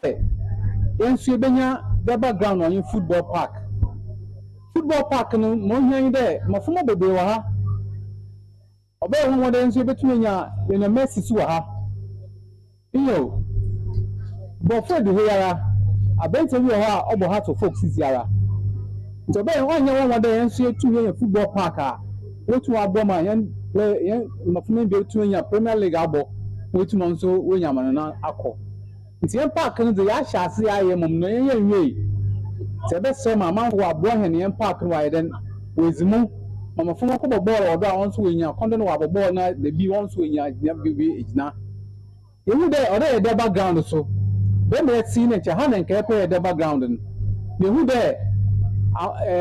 Sɛ yɛn nso yebenya dɛ background ɔnye football park. Football park no ma ohia nye dɛ mbofrmba beberee wɔ ha. Ɔbɛyɛ nwanwa dɛ yɛn nso yebotum enya yenya Mercy so wɔ ha. Nyew, borɔfo edu ha yi ara, aberantsɛ bi wɔ hɔ a ɔbɔ ha to folk sisi ara. Ntsi ɔbɛyɛ ɔnnyɛ nwanwa dɛ yɛn so yetum yenya football park a obotum abɔ ma hɛn play hɛn mbofrmba no bi etum enya Premier League abɔ ma oetum ɔno so oenya amanyɔnao akɔ. Ntsi hɛn park no dze yɛahyɛ ase ayɛ mbom no yɛnnyɛ nnwiei. Sɛ yɛbɛserɛ ma amamfo wɔaboa hɛn na hɛn park no wɔayɛ dɛn? Woedzi mu ma mbofra no wɔkɔbɔ bɔɔl wɔ do a hɔn so woennya kwan dɛ wɔabɔ bɔɔl no a bi hɔn so woennya gyina biribi egyina. Yehu dɛ ɔwɔ dɛ yɛda background so. Dɛ mbrɛ ɛtse yi na nkyɛ ha na nka yɛpɛ yɛda background no. Mehu dɛ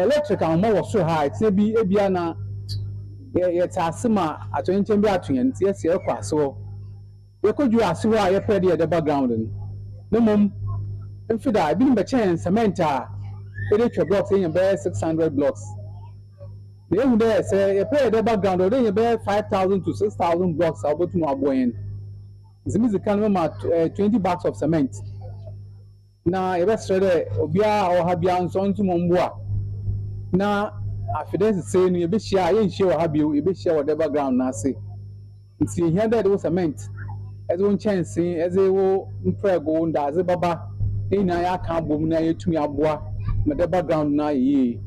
electric ahoma wɔ sor ha a etsena bi bi a na yɛtse ase ma atoyerɛnkyɛm bi ato hɛn ntsi yɛse yɛrokɔ ase hɔ. Yɛkɔduru ase hɔ a yɛfrɛ deɛ ɛda background no, na mmom mfeda a ebinom bɛkyɛn cement a yɛde twɛ blocks yɛnya bɛyɛ six hundred blocks. Na yɛhu dɛ sɛ yɛpɛ deɛ ɛda background a ɔwɔ dɛ yɛnya bɛyɛ five thousand to six thousand blocks a wɔbɛtum aboa yɛn. Ntsi midzi kan mɛma twenty bags of cement. Na yɛbɛserɛ dɛ obiara a ɔwɔ ha biara nso ɔnntse hɔn bo a na afe dɛ sesei no yebehyia a yennhyia wɔ ha bio, yebehyia wɔ dɛbba ground no ase. Ntsi yehia dɛ edze wo cement, edze wo nkyɛnsee, edze wo mprɛgow, wo ndaadze bɛba, ne nyina yɛakã abɔ mu na yeetum aboa ma dɛbba ground no ayɛ yie.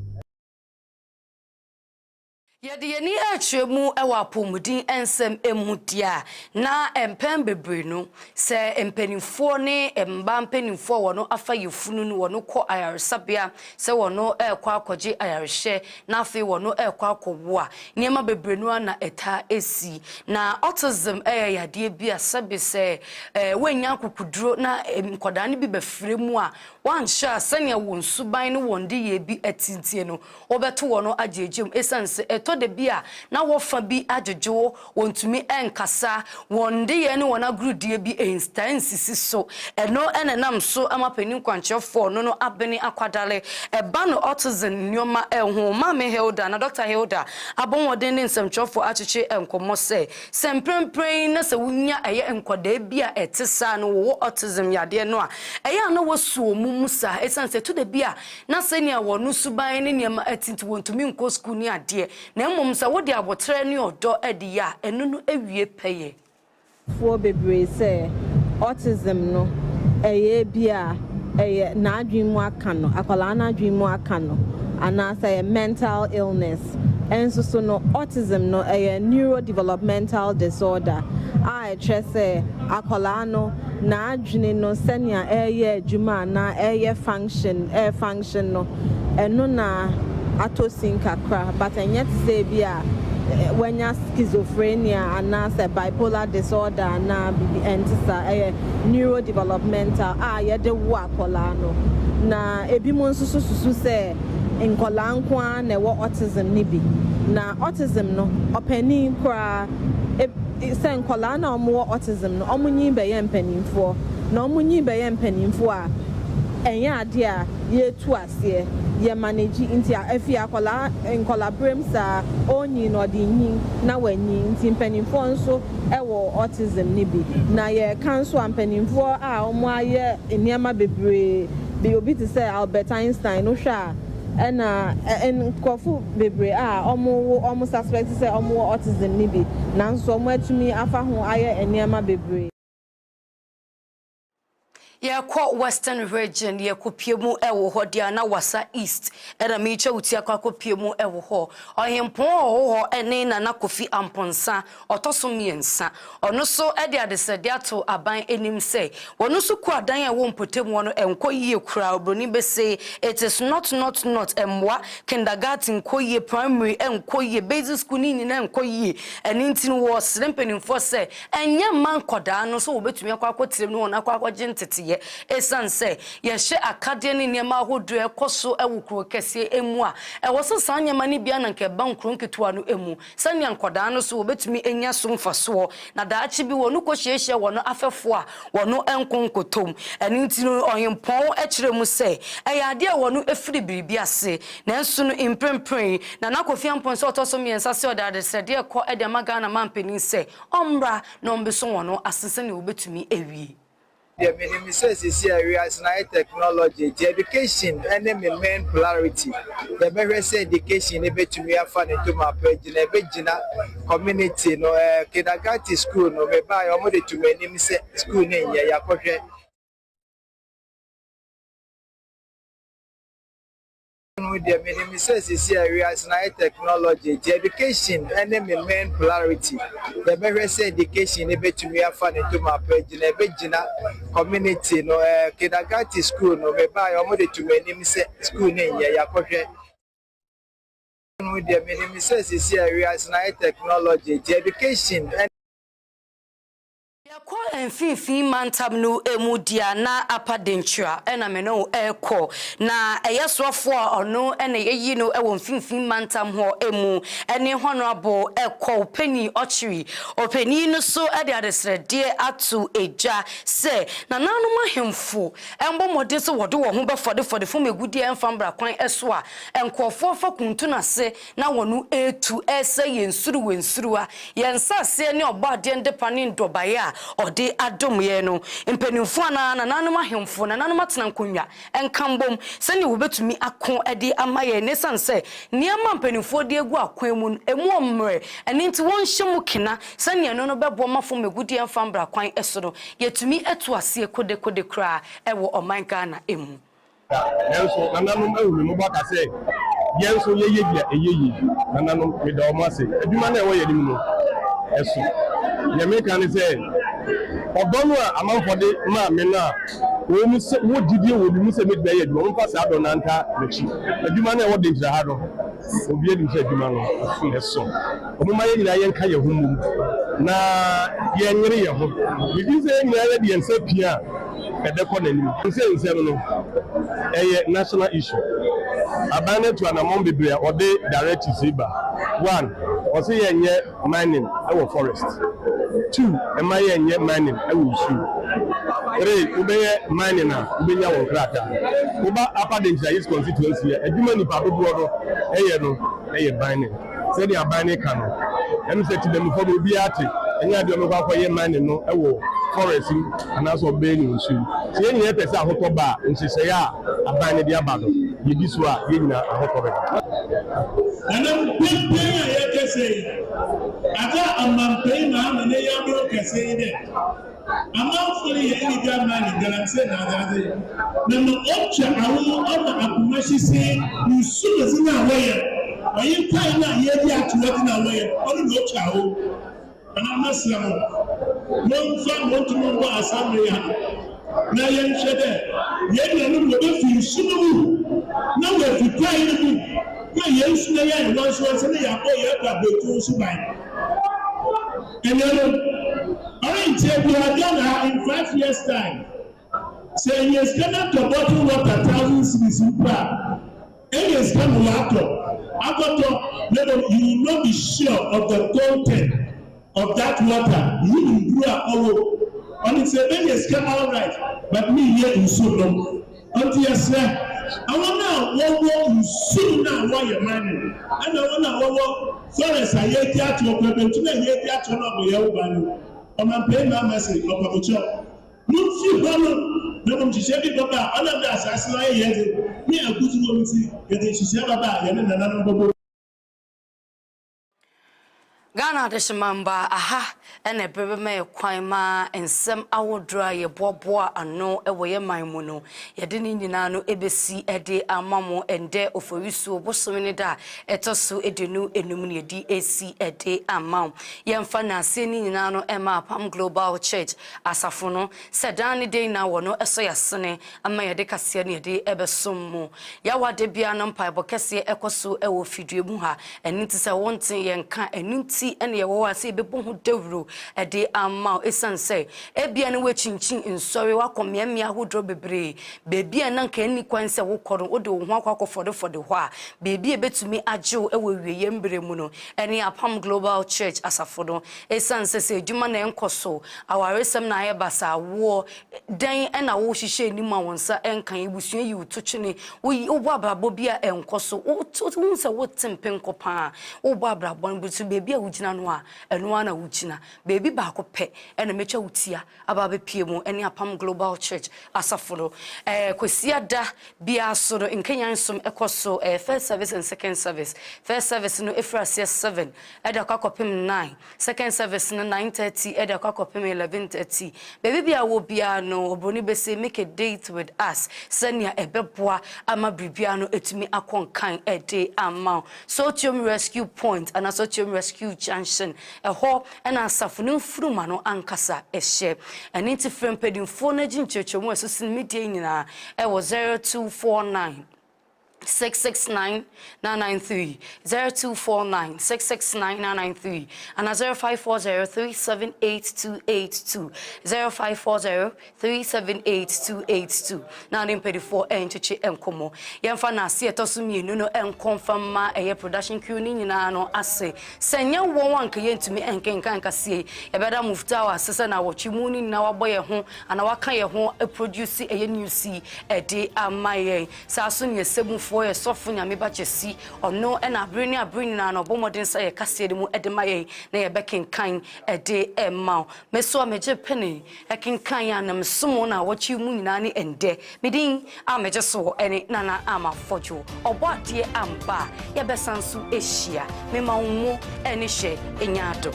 Yɛde yɛn ani kyerɛ mu wɔ apɔwmuden nsɛm mu di a, na mpɛn bebree no, sɛ mpanimfoɔ ne mmaa mpanimfoɔ a wɔn afa yafunu no, wɔn kɔ ayaresabea sɛ wɔn rekɔ akɔgye ayarehwɛ, na afei wɔn rekɔ akɔwo a, nneɛma bebree no ara na ɛtaa si. Na autism yɛ yadeɛ bi a sɛbe sɛ ɛɛ wɔannya akokoduro na nkwadaa no bi bɛfra mu a, wɔanhyɛ a sɛnea wɔn suban ne wɔn nneyɛɛ bi te nti no, Wobɛto wɔn no agyegye mu esiane sɛ ɛtɔ da bi a na wɔfa bi adwodwo, wɔntumi nkasa, wɔn nneyɛe ne wɔn agorudie bi ntaa nsisi so. Ɛno na ɛnam so ama panin kwankyerɛfoɔ no no abene akwadare. Ɛba no autism nneɛma ho. Maame Hilda na Dɔkta Hilda abɔ mmɔden ne nsɛmtwerɛfoɔ akyekye nkɔmmɔ sɛ, sɛ mprempren na sɛ wonya ɛyɛ nkwadaa bi a ɛte saa na wɔwɔ autism yadeɛ no a, ɛyɛ a na wɔasi wɔn mu saa esiane sɛ ɛtɔ da bi a na sɛnea wɔn no suban ne nneɛma ɛte nti wɔntumi nkɔ sukuu ne adeɛ, na mmom sɛ wode aboterɛ ne ɔdɔ ɛde yɛ a, ɛno no ɛwie pɛyɛ. foɔ bebree sɛ autism no ɛyɛ ebi a ɛyɛ n'adwene mu aka no, akwadaa no adwene mu aka no, anaasɛ ɛyɛ mental illness. Nso so no, autism no ɛyɛ neurodevelopmental disorder a. a ɛkyerɛ sɛ akwadaa no n'adwene no sɛnea ɛreyɛ adwuma anaa ɛreyɛ function ɛɛ function no ɛno na atɔ sin kakra but ɛnyɛ te sɛ ebi a wanya schizophrenia anaasɛ bipolar disorder anaa biribi ɛnte saa ɛyɛ neurodevelopmental a yɛde wo akwadaa no na ebinom nso so susu sɛ nkwadaa nko ara na ɛwɔ autism no bi na autism no ɔpanin koraa sɛ nkwadaa no a wɔwɔ autism no, wɔnyin bɛyɛ mpanimfoɔ, na wɔnyin bɛyɛ mpanimfoɔ a, ɛnyɛ adeɛ a yɛtu aseɛ, yɛ manage, nti afei akwadaa, nkwadaaberɛm saa, ɔrenyin no, ɔde renyin na wanyin, nti mpanimfoɔ nso wɔ autism no bi, na yɛreka nso a, mpanimfoɔ a wɔayɛ nneɛma bebree, deɛ obi te sɛ Albert Einstein no hwɛ a, Ɛna nkorɔfo bebree a wɔwo wɔn suspect sɛ wɔwɔ autism no bi, nanso wɔatumi afa ho ayɛ nneɛma bebree. Yɛkɔ Western Region, yɛkɔpue mu wɔ hɔ deɛ a, na Wassa East na meretwa wo ti akɔ akɔpue mu wɔ hɔ. Ɔhempɔn a ɔwɔ hɔ ne Nana Kofi Amponsah, Ɔtɔ so mmiɛnsa, ɔno nso de adesrɛdeɛ ato aban anim sɛ wɔn nso kuo adan a ɛwɔ mpɔtam hɔ no nkɔ yie koraa, oburoni bese it is not not not, mmoa, kindergarten nkɔ yie, primary nkɔ yie, basic school ne nyinaa nkɔ yie, ɛno nti no wɔresrɛ mpanimfoɔ sɛ ɛnyɛ mma nkwadaa no sɛ wɔbɛtumi akɔ akɔtrem ne wɔn akɔ akɔgye nteteeɛ ɛsiane sɛ yɛhyɛ akadeɛ ne nneɛma ahodoɔ a ɛkɔ so wɔ kuro kɛseɛ mu a ɛwɔ sɛ saa nneɛma no biara na nka ɛba nkuro nketewa no mu. Sɛnea nkwadaa no so wɔbetumi anya so mfasoɔ, na daakye bi wɔkɔhyiahyia wɔn afɛfoɔ a wɔn nko nkɔtɔm. Ɛno nti no, ɔhempɔn kyerɛ mu sɛ ɛyɛ adeɛ a wɔfiri biribi ase. Nanso no, mprempren, Nana Kofi Ampon sɛ ɔtɔ so mmiɛnsa sɛ ɔde adesrɛdeɛ rekɔ de ama Ghana mampanin sɛ ɔmmra na ɔmmeso wɔn ase sɛnea wɔbetumi awie. Deɛ me nim ne sɛ sisi a wiase no ayɛ technology nti education ne me main polarity. Yɛ bɛ hwɛ sɛ education ne bɛ tumi afa ne ntoma apɛ agyina yɛ bɛ gyina community no eh kindergarten school no me ba yɛ ɔmo de tumi anim sɛ school ne nyɛ yɛ akɔ hwɛ no ho deɛ menim ne sɛ seesei a wiase no ayɛ technology nti education ne me main polarity yɛbɛhwɛ sɛ education no bɛtumi afa ne tom apa agyina ɛbɛgyina community no eh, kindergarten school no mebaeɛ ɔmo de tom anim sɛ school no nyɛ yɛakɔhwɛ no ho deɛ menim ne sɛ seesei a wiase no ayɛ technology nti education Yɛkɔ mfimfini mantam no mu di a na Apa Denkyira na me ne wo rekɔ. Na ɛyɛ soafoɔ a ɔno na yɛyi no wɔ mfimfini mantam hɔ mu ne Honourable Kwaw Penny Ɔkyere. Ɔpanin no nso de adesrɛdeɛ ato dwa sɛ nananom ahemfo mmɔ mmɔden sɛ wɔde wɔn ho bɛfɔdefɔde fam agudeɛ mfa mmra kwan so a nkurɔfoɔ fa kuntu no ase Na wɔn retu resɛe yɛn nsuruwansuruwa, yɛn nsaseɛ ne Ɔbɔadeɛ ndepa ne ndɔbaeɛ a Ɔde adom yɛn no. Mpaninfoɔ anaa nananom ahemfo, nananom atenankonnwa, nka mbom sɛdeɛ wɔbɛtumi ako de ama yɛn, na esiane sɛ nneɛma a mpaninfoɔ de agu akwan mu no, ɛmu ɔmmerɛ, ɛno nti wɔnhyɛ mu kena sɛdeɛ ɛno no bɛboa ma fam agudeɛ amfa ammra kwan so no, yɛtumi atu aseɛ kodekode koraa wɔ ɔman Ghana mu. Nanso nananom ahu me mmɔbɔ aka sɛ, Yɛn nso yɛyɛ bi a ɛyɛ yie. Nananom, meda wɔn ase. Adwuma no a ɛwɔ yɛn anim no, ɛso. Deɛ mereka ne sɛ, ɔdɔ no a amanfoɔ de maa me no a ɛwɔ mu sɛ wɔwɔ gyidie wɔ me mu sɛ mɛtumi ayɛ adwuma, momfa saa dɔ no ntaa m'akyi. Adwuma no a ɛwɔ Denkyira ha no, obiara nim sɛ adwuma no, ɛso. Momma yɛn nyinaa yɛnka yɛn ho mmom na yɛnyere yɛn ho. Megye di sɛ yɛn nyinaa yɛde yɛn nsa pia a, ɛbɛkɔ n'anim. Seesei nsɛm no ɛyɛ national issue. Aban no atu anamɔn bebree a ɔde directives yi ba. One, ɔse yɛnyɛ mining wɔ forest. Two, mma yɛnyɛ mining wɔ nsuo. Three, wobɛyɛ mining a wobɛnya wo nkrataa. Woba Upper Denkyira East Constituency a, adwuma nnipa dodoɔ no yɛ no yɛ mining. Sɛdeɛ aban no ka no, ɛne sɛ Tibamufo no obiara te nya deɛ ɔbɛkɔ akɔyɛ ma ne no wɔ forest mu anaasɛ ɔbɛn no nsu mu. Sɛ yɛn nyinaa pɛ sɛ ahotɔ ba a, nhyehyɛe a aban no de aba no, yɛdi so a, yɛn nyinaa ahotɔ bɛba. Ɛnam dɛn pɛn a yɛkɛsɛ yi, ada amanpɛi maa me ne yaboro kɛse yi dɛ. Amanfoɔ no yɛ ɛne dwa mma ne galamsey na adadze, na ma ɔntwa awo ɔma akoma hye see. Nsu no dze na wɔyɛ, ɔye ntae no a yeedzi ato hɔ dze na wɔyɛ, ɔno na ɔtwa awo. Ana mɛsrɛ mo, momfa mo ntoma mbɔ asamberee ha, na yɛnhwɛ dɛ hɛn nuanom wɔbɛfi nsu no mu, na wɔafi kwae no mu, na hɛn nsu na yɛayɛ nwansowanso na yɛabɔ hɛn abrabɔ etuo so ban. Enuanom, ɔrennkyɛ biara Ghana ha in five years time, sɛ yenya sika na tɔ bottle water thousand cedis mpo a, ɛnyɛ sika na wɔatɔ akɔtɔ na mmom you will not be sure of the content of that water, wunim duru a ɔwɔ mu. Ɔnim sɛ menya sika alright but menyɛ nsu nnom. Ɔnti yɛsrɛ awɔn a wɔwɔ nsuo no a wɔyɛ man no ɛna wɔn a wɔwɔ forest a yɛredi atoɔ kwan bentum a yɛredi atoɔ no abɔyɛ wo ban no ɔmampayin maa mɛse ɔpamokyɛw momfi hɔ no na mom nhyehyɛ bi bɛba a ɔnam dɛ asaase no ayɛ yɛn de ne agudzi wɔ mu nti yɛde nhyehyɛ bɛba a yɛne nananom bɛbɔ Ghana adehyemambɔ a aha na ɛbɛbɛmɛɛ kwan ma nsɛm ahodoɔ a yɛboaboa ano wɔ yɛ man mu no, yɛde ne nyinaa no bɛsi de ama mo ɛndɛ Oforisuo bosome no da a ɛtɔ so aduonu enum na yɛde asi de ama wo. Yɛmfa nnaseɛ no nyinaa no ma Apam Global Church asafo no sɛ daa ne dɛn na wɔn ɛsɔ yɛ asene ama yɛde kaseɛ no yɛde ɛbɛsom mo Yahweh ada biara no mpaebɔ kɛseɛ ɛkɔ so ɛwɔ fidua mu ha ɛno nti sɛ wo nte yɛn nka ɛno nti ɛna yɛwɔ hɔ a sɛ yɛbɛbɔ ho dawuro ɛde ama wo ɛsiane sɛ ebia ne woakyinkyin nsɔre wakɔ mmeammea ahodoɔ bebree baabi a na nka ɛnni kwan sɛ wokɔ no wode wo ho akɔ akɔfɔdefɔde hɔ a baabi a ɛbɛtumi agye wo ɛwɔ awieeɛ mmerɛ mu no ɛne Apam Global Church asafo no ɛsiane sɛ sɛ adwuma na ɛnkɔ so awaresɛm na ayɛ basaa awoɔ Dɛn na wohyehyɛ anim a wo nsa nka? Abusua yi wo to kyene, wobɔ abrabɔ bi a ɛnkɔ so, wohu sɛ wote mpem kɔ paa, wobɔ abrabɔ no bi so, baabi a wogyina no a, ɛno ara na wogyina. Baabi baako pɛ na mɛtwa wo ti a aba abɛpue mu, ɛne Apam Global Church asafo no. Ɛɛ Kwasiada biara so no, nkanyan som kɔ so, ɛyɛ first service and second service. First service no firi aseɛ seven, ɛde akɔ akɔpem nine. Second service no nine thirty ɛde akɔ akɔpem eleven thirty. Baabi biara wɔ biara no obroni bɛse make a date with us sɛnea ɛbɛboa ama biribiara no atumi akɔ nkan ɛde ama wo. Sotiom rescue point anaa Sotiom rescue junction ɛhɔ na asafo no mfunuma no ankasa ɛhyɛ. Ɛno nti frɛ mpanyinfoɔ na gye nkyerɛkyerɛmu a ɛso sene me deɛ nyinaa ɛwɔ zero two four nine. six six nine nine nine three zero two four nine six six nine nine nine three ana zero five four zero three seven eight two eight two zero five four zero three seven eight two eight two na ne mpanyinfoɔ ɛnkyekye nkɔmɔ yɛnfa na ase ɛtɔ so mmienu no nkɔnfa mma ɛyɛ production crew ne nyinaa no ase sɛ nyɛ wɔn a nka yɛntumi nkenkan kaseɛ yɛbɛda mufta wɔ ase sɛ na wɔtwe mu ne nyinaa wabɔ yɛn ho ana waka yɛn ho produce ɛyɛ news yi ɛde ama yɛn Saa nso na yɛn Segunfoɔ, yɛn Sɔfo Nyame Ba Kyɛsi, Ɔno na abere ne abere nyinaa no Ɔbɔ mmɔden sɛ yɛ kaseɛ no mu de ma yɛn na yɛbɛkenkan de rema Wo. Me nso a megye penee, ɛkenkan yɛ a na mesom Wo na awɔtwe yi mu nyinaa ne ɛndɛ. Me din a megye soɔ ne Nana Ama Fodwo, Ɔbɔadeɛ amba a yɛbɛsan nso ahyia. Mema Wo mo. Ɛne hyɛ nya ado.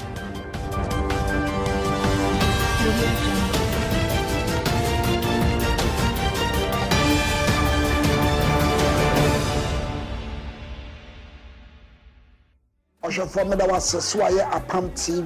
Ɔhwɛfoɔ meda wo ase sɛ wayɛ apam TV.